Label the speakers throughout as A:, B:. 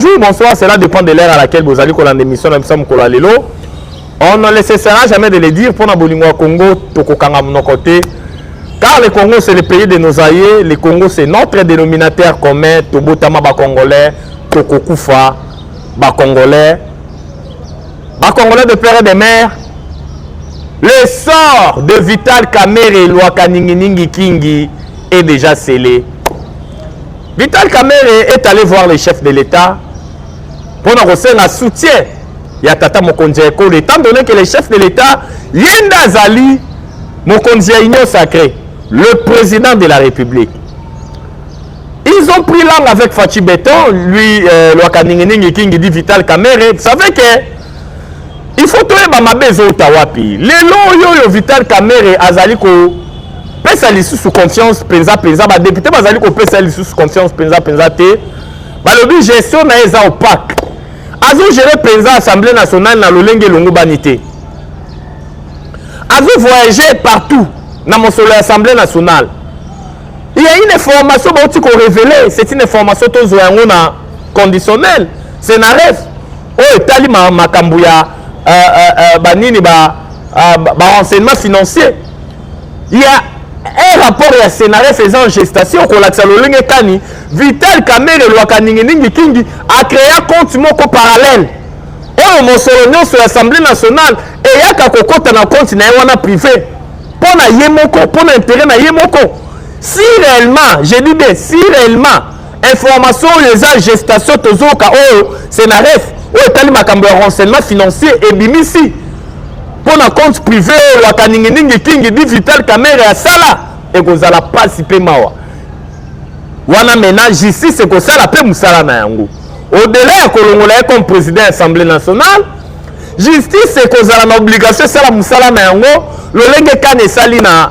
A: Bonjour, bonsoir, cela dépend de l'heure à laquelle vous allez kolanda émission na biso mokolo ya lelo. On ne le cessera jamais de le dire, pona bolingo ya Congo, tokokanga monoko te. Car le Congo c'est le pays de nos aïeux, le Congo c'est notre dénominateur commun, tobotama ba Congolais, tokokufa ba Congolais. Ba Congolais de père et de mère. Le sort de Vital Kamerhe Luaka Ningi Ningi Kingi est déjà scellé. Vital Kamerhe est allé voir le chef de l'État mpo na kosenga soutien ya tata mokonzi ya ekolo etant donné que le chef de l'État ye nde azali mokonzi ya union sacrée le président de la République ils ont pris langue avec Fatshi Beton lui euh, Lwaka Ninginingi Kingi dit Vital Kamerhe vous savez que il faut toyeba mabe ezouta wapi lelo oyo oyo vital kamere azali kopesa lisusu confiance mpenza mpenza badepute bazali kopesa lisusu confiance mpenza mpenza te balobi gestion na ye eza opaque azogere mpenza assemblée nationale na lolenge elongobani te azovoyage partout na mosolo ya assemblée nationale il y a une information bauti korevele c'est une information tozwa yango na conditionnel c'est na ref oyo etali makambo ya uh, uh, uh, banini ba, uh, ba, ba renseignement financier ya un rapport ya scénares eza en gestation kolakisa lolenge kani vital kamere elwaka ninginingi kingi acrea compte moko parallèle oyo mosolo nyonso ya assemblée nationale eyaka kokɔta na compte na ye wana privé mpo na ye moko mpo na intérêt na ye moko si réellement je dis bien si réellement information oyo eza gestation tozoka oyo senaref oyo etali makambo ya renseignement financier ebimisi mpo na compte privé oyo waka ninginingi kingi di vital kamere asala ekozala mpasi mpe mawa wana mena justice ekosala mpe mosala na yango odela ya kolongola ye comme président ya assemblée nationale justice ekozala na obligation esala mosala na yango lolenge kani esali na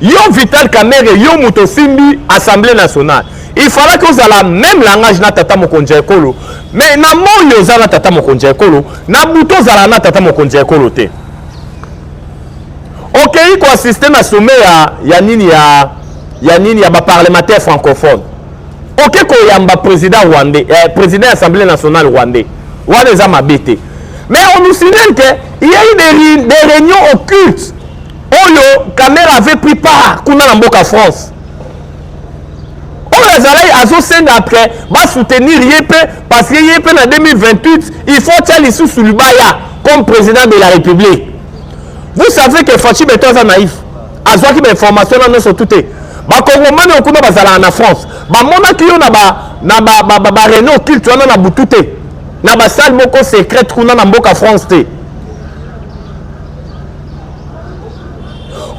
A: Yo Vital Kamerhe, yo moto osimbi Assemblée nationale. Il fallait que ozala même langage na tata mokonzi ya ekolo. Mais na moi oza na tata mokonzi ya ekolo, na buto ozala na tata mokonzi ya ekolo te. Okei okay, ko assister na sommet ya ya nini ya ya nini ya ba parlementaires francophones. Okei okay, ko yamba président rwandais, eh, président ya Assemblée nationale rwandais. Wana eza mabe te. Mais on nous signale que il y a eu des, des réunions occultes oyo kamere avait pris part kuna na mboka france oyo azalaki azosenga après basoutenir ye mpe parce que ye mpe na 2028 il faut tya lisusu libaya comme président de la république vous savez que fachi beto aza naïf azwaki bainformation na nyonso tu te bakongomani oyo kuna bazalaka na france bamonaki yo na bareno ba, ba, ba culte wana na butu te na basale moko secrète kuna na mboka france te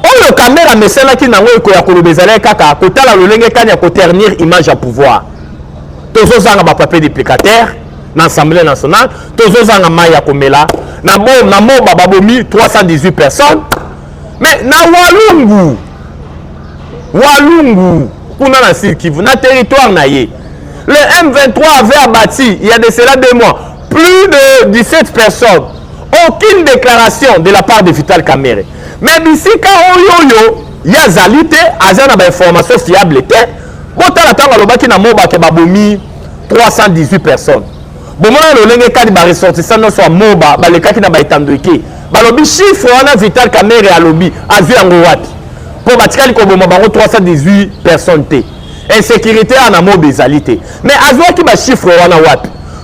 A: oyo kamere amesanaki nango ekoya koloba ezalaki kaka kotala lolenge kani ya koternir image ya pouvoir tozozanga bapapier duplicateur na assemblée nationale tozozanga mai ya komela na moba babomi 318 personnes mais na walungu walungu kuna na sud kivu na territoire na ye le m23 avait abati ya de cela deux mois Plus de 17 personnes. Aucune déclaration de la part de Vital Kamere. Mais bisika oyoyo ye azali te aza na bainformation fiable te botala ntango alobaki na mobake babomi 318 personnes bomona lolenge kani baressortissant nyonso ya moba balekaki na baetando eke balobi chiffre wana vital kamere alobi azwi yango wapi mpo batikali koboma bango 318 personnes te insécurité wana moba ezali te mais azwaki bachiffre wana wapi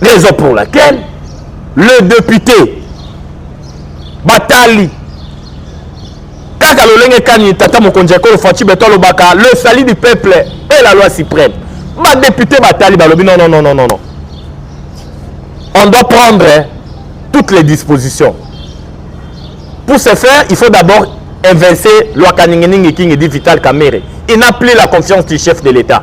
A: raison pour laquelle le député batali kaka lolenge kani tata mokonzi ya ekolo faci beto alobaka le sali du peuple et la loi suprême badepute batali balobi non non non non non on doit prendre toutes les dispositions pour ce faire il faut d'abord inverser loi kaninginingi kingi dit vital kamere il n'a plus la confiance du chef de l'état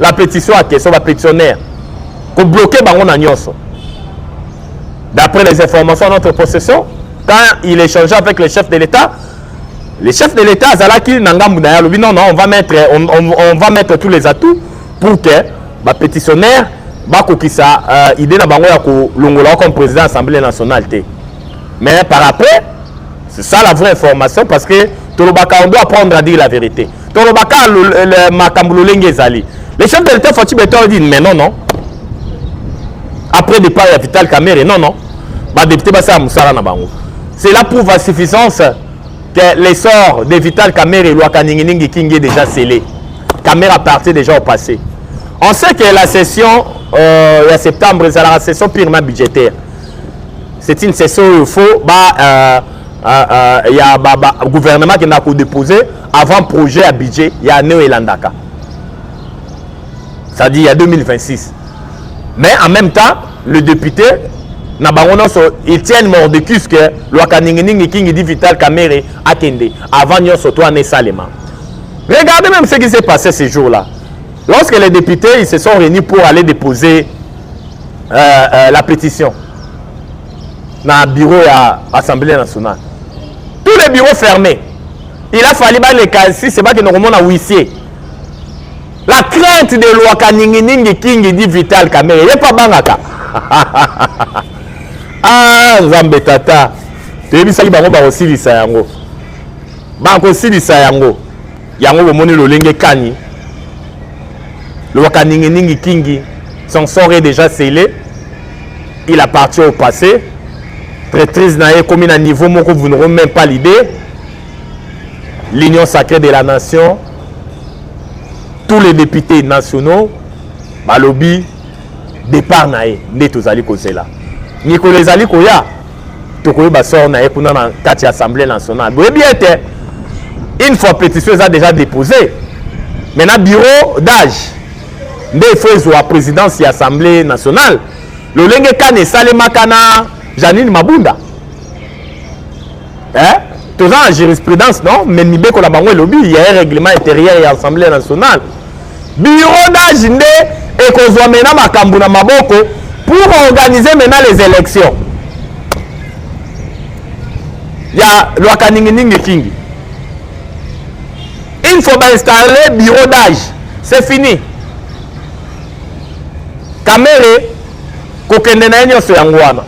A: la petition ya question bapetitionnaire kobloke bango na nyonso d'après les informations à notre possession quand il échangeait avec le chef de l'état le chef de l'état azalaki na ngambu na ye alobi non non on va mettre, on, on, on va mettre tous les atouts pour que bapetitionnaire bakokisa euh, idée na bango ya kolongola comme président ya assemblée nationale te mais par après c'est ça la vraie information parce que tolobaka on doit apprendre à dire la vérité tolobaka makambo lolenge ezali le chef de l'état fatshi beton dit mais non non après départ ya vital kamere non non badepute basala mosala na bango cela prouve à suffisance que l'essor de vital kamere elwaka ninginingi kingi est déjà scellé kamere appartient déjà au passé on sait que la session euh, ya septembre ezalaka session purement budgétaire c'est une session oyo faut ba euh, euh, euh, ya ba, ba, gouvernement akendaka kodepose avant projet ya budget ya année oyo elandaka c'est-à-dire ya 2026 mais en même temps le député na bango nyonso etienne mordecus ke lwaka ninginingi kingi di vital kamere akende avant nyonso to wana esalema regardez même ce qui s'est passé ce jour là lorsque les députés ils se sont réunis pour aller déposer euh, euh, la pétition na bureau ya assemblée nationale tous les bureaux fermés il a fallu baleka sise bakende komona wisie la crainte de lwaka ninginingi kingi di vital kamere ye mpo abangaka ah nzambe tata toyebisaki bango bakosilisa yango bakosilisa yango yango bomoni lolenge kani lwaka ninginingi kingi son sort est déjà scellé il appartient au passé traîtrise na ye ekomi na niveau moko vous n'aurez même pas l'idée l'union sacrée de la nation tous les députés nationaux balobi départ na ye nde tozali kozela mikolo ezali koya tokoyeba sort na ye kuna na kati ya assemblée nationale boyebi ete une fois pétition eza déjà déposée maintenant bureau d'âge nde il faut ezwa présidence ya assemblée nationale lolenge kani esalemaka na janine mabunda eh? toza na jurisprudence non mais mibeko na bango elobi ya ye règlement intérieur ya assemblée nationale bureau d'age nde ekozwa mena makambo na maboko pour organiser mena les élections ya lwaka ninginingi kingi Une fois ba installer bureau d'âge, c'est fini. Kamere kokende na ye nyonso yango wana.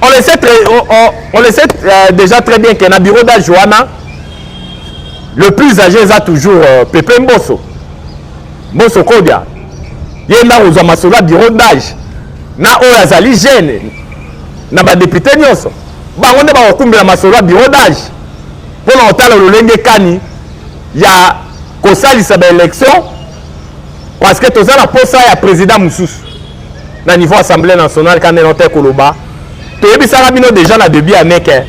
A: On le sait, très, on, on, on le sait euh, déjà très bien que na bureau d'âge wana le plus âgé eza toujours euh, Pepe Mboso. Mboso Kodia. Ye nda kozwa masolo ya bureau d'âge na oyo azali jeune na badepute nyonso bango nde bakokumbela masolo ya bureau d'age mpo na kotala lolenge kani ya kosalisa baelection parce que toza na posa ya président mosusu na niveau assemblée nationale kande na te koloba toyebisaka bino deja na debut ya meke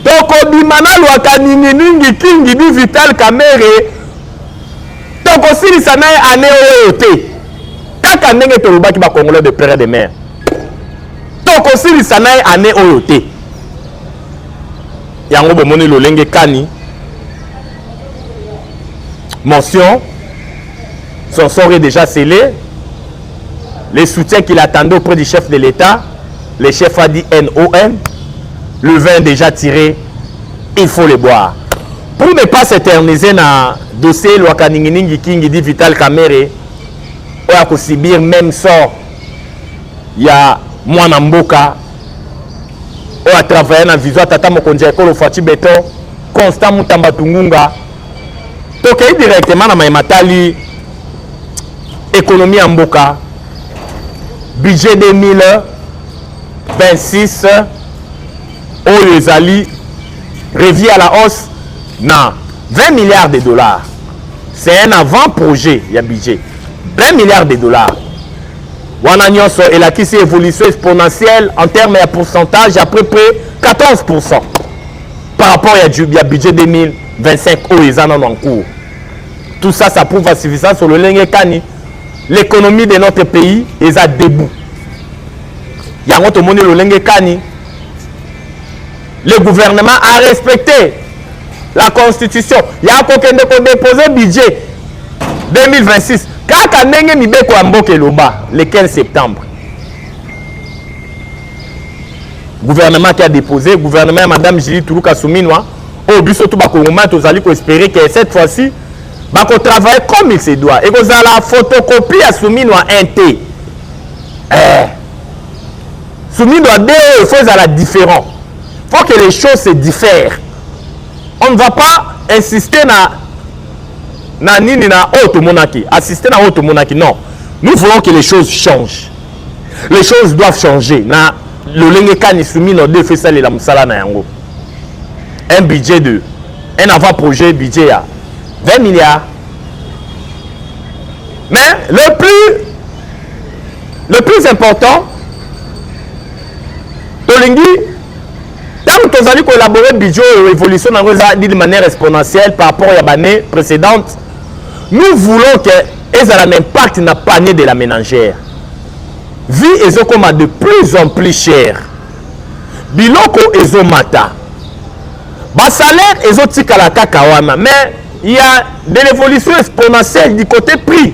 A: tokobima na lwaka ninginingi kingi bi vital kamere tokosilisa naye ane oyo te kaka ndenge tolobaki bacongolais de pere de mare tokosilisa naye ane oyo te yango bomoni lolenge kani mention son sort est déjà scellé les soutiens qu'il attendait auprès du chef de l'état le chef a dit non le vin déjà tiré il faut le boire pour ne pas s'éterniser na dossier elwaka ninginingi kingi di vital kamere oyo akosibir même sort ya mwana mboka oyo atravaya na vision ya tata mokonzi ya ekolo faci beton constant mutamba tungunga tokei directement na mai matali ekonomi ya mboka budget 2026 oyo ezali revi à la hausse na 20 milliards de dollars c'est un avant projet ya budget 20 milliards de dollars Wana nionso elakisi evolution exponentielle en terme ya pourcentage à peu près 14% par rapport ya, ya budget 2025 oyo eza nano en cours. Tout ça, ça prouve à suffisance sur le lenge kani l'économie de notre pays est à debout. Yango tomoni lolenge kani le gouvernement a respecté la constitution ya kokende kodepose budget 2026 kaka ndenge mibeko ya mboka eloba le 15 septembre gouvernement qui a déposé gouvernement ya madame julie tuluka suminwa oyo biso to bakongomani tozali koespere ke cette fois-ci bakotravaille comme il se doit ekozala photocopie ya suminwa 1 te eh. Sumido ya deux oyo faut ezala différent. Faut que les choses se diffèrent. On ne va pas insister na na nini na oyo tomonaki, assister na oyo tomonaki. Non. Nous voulons que les choses changent. Les choses doivent changer. Na lolenge kani Sumido deux fait ça les la musala na yango. Un budget de un avant-projet budget à 20 milliards. Mais le plus le plus important tolingi ntango tozali koélabore budget oyo évolution na yango eza d'une manière exponentielle par rapport ya bannée précédente nous voulons que ezala na impact na panier de la ménagère vie ezokoma de plus en plus chère biloko ezomata basalaire ezotikala kaka wana mais il y a de l'évolution exponentielle du côté prix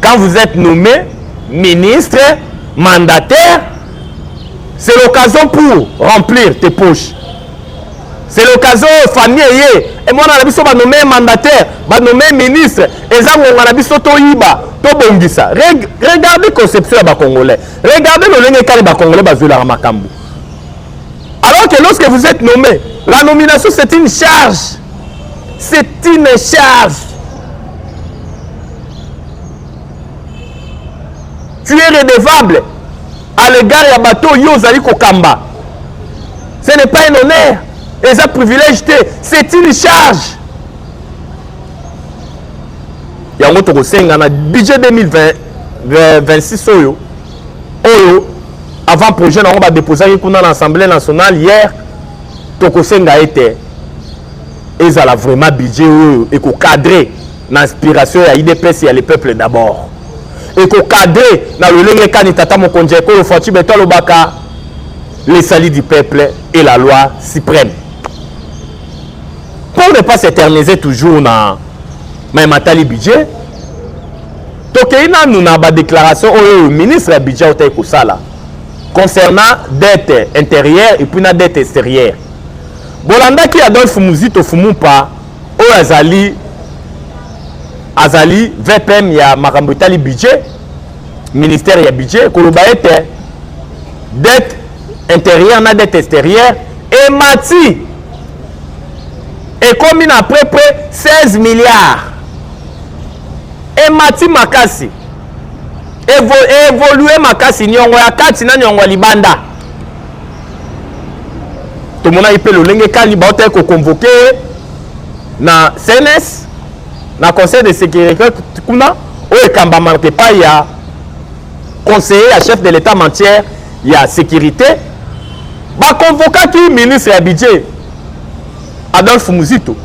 A: Quand vous êtes nommé ministre, mandataire, c'est l'occasion pour remplir tes poches. C'est l'occasion famille eye et moi na biso ba nommé mandataire, ba nommé ministre, eza ngonga na biso to yiba, to bongisa. Regardez conception ya ba congolais. Regardez lolenge kali ba congolais bazwela makambo. Alors que lorsque vous êtes nommé, la nomination c'est une charge. c'est une charge tu es redevable à l'égard ya bato yo ozali kokamba ce n'est pas un honneur eza privilège te c'est une charge yango tokosenga na budget 2026 oyo oyo avant projet na yango badeposaki kuna na assemblée nationale hier tokosenga ete ezala vraiment budget oyo ekokadre na inspiration ya idps ya le peuple d'abord ekokadre na lolenge kani tata mokonzi ya ekolo faci beto alobaka les salis du peuple et la loi suprême pour ne pas s'éterniser toujours na mai matali budget tokei nanu na badéclaration oyo oyo ministre ya budget autaki kosala concernant dette intérieure et puis na dette extérieure bolandaki adolphe muzito fumupa oyo azali azali vpm ya makambo etali budget ministère ya budget koloba ete dette intérieure na dette extérieure emati ekomi na près près 16 milliards emati makasi Evo, evolue makasi niongo ya kati na niongo ya libanda tomonaki mpe lolenge kani bautaki koconvoke na cns na conseil de sécurité kuna oyo ekambamaka epai ya conseiller ya chef de l'état matière ya sécurité baconvokaki ministre ya budget Adolphe Muzito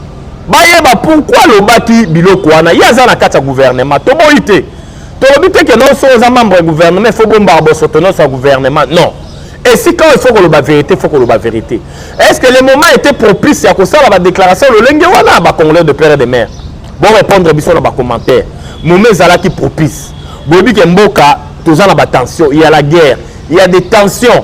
A: bayeba pourquoi alobaki biloko wana ye aza na kati ya gouvernement toboyi te tolobi te ke noso oza membre ya gouvernement ifo bombaka bosoto noso ya gouvernement non esika oyo ifo koloba verité ifo koloba verité est ce que le moment était propice ya kosala badéclaration lolenge wana bacongolais de père de mère borépondre biso na bacommentaire moment ezalaki propice boyebi ke mboka toza na batension ya la guerre ya des tensions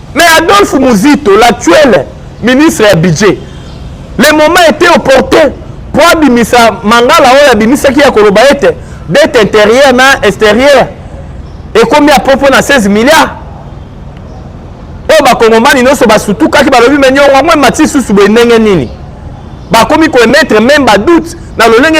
A: Mais Adolphe Muzito, l'actuel ministre ya budget, le moment était opportun mpo abimisa mangala oyo abimisaki ya koloba ete dette intérieure na extérieure ekomi ya popo na 16 milliards oyo bakongomani nyonso basutukaki balobi me nyongo yango emati susu boye ndenge nini bakomi koemettre meme badoute na lolenge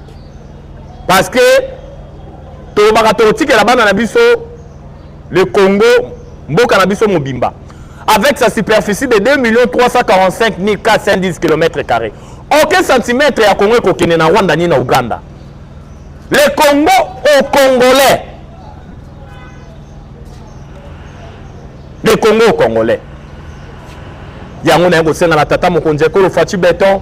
A: parce que tolobaka tokotikela bana na biso le congo mboka na biso mobimba avec sa superficie de 2 millions 345 410 km carré aucun centimètre ya congo ekokende na rwanda ni na uganda le congo au congolais le congo au congolais yango naye kosenga na tata mokonzi ekolo faci beton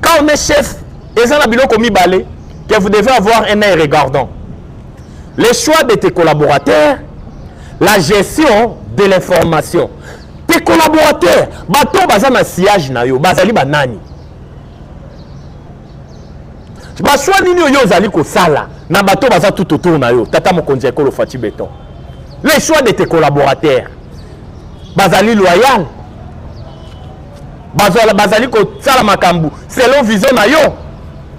A: Quand on est chef, et ça, biloko mibale, que vous devez avoir un œil regardant. Les choix de tes collaborateurs, la gestion de l'information. Tes collaborateurs, bato baza na sillage na yo, bazali banani? Baswa nini oyo ozali kosala na bato baza tout autour na yo, tata mokonzi ya ekolo Fatshi Beton. Les choix de tes collaborateurs, bazali loyal, bazala bazali kosala makambo selon vision na yo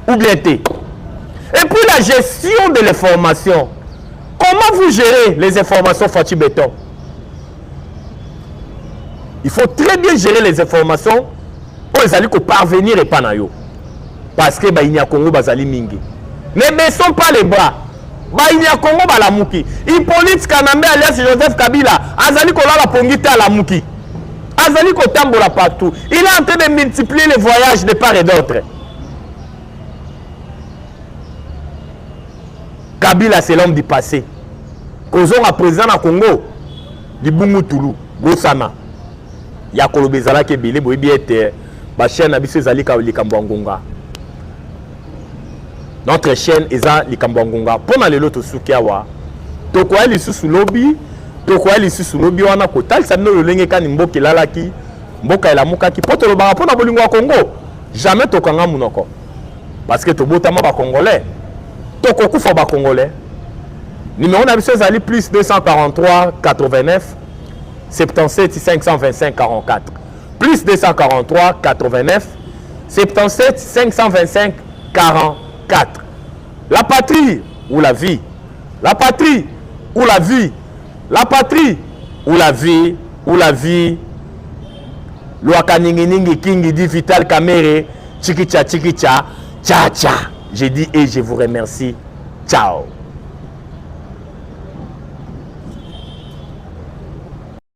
A: ou bien te et puis la gestion de l'information comment vous gérez les informations Fatih Béton il faut très bien gérer les informations oyo ezali koparvenir epai na yo parce que baini ya congo bazali mingi ne baissons pas les bras bayini ya kongo balamuki hippolyte kanambe alias joseph kabila azali kolala pongi te alamuki azali kotambola partout il est en train de multiplier les voyages de part et d'autre kabila c'est l'homme du passé kozonga président na congo libungu tulu bosana ya koloba ezalaki ebele boyebi ete bachaine na biso ezali likambo ya ngonga notre chaîne eza likambo ya ngonga mpo na lelo tosuki awa tokoya lisusu lobi tokoya lisusu lobi wana kotalisa bino lolenge kani mboka elalaki mboka elamukaki mpo tolobaka mpo na bolingo ya kongo jamais tokanga monoko parce que tobotama bacongolais tokokufa bacongolais numero na biso ezali plus 243 89 77 525 44 Plus 243 89 77 525 44. La patrie ou la vie. La patrie ou la vie. La patrie ou la vie ou la vie. Luaka ningi ningi kingi dit Vital Kamere. Chikicha chikicha. Cha cha. J'ai dit et je vous remercie. Ciao.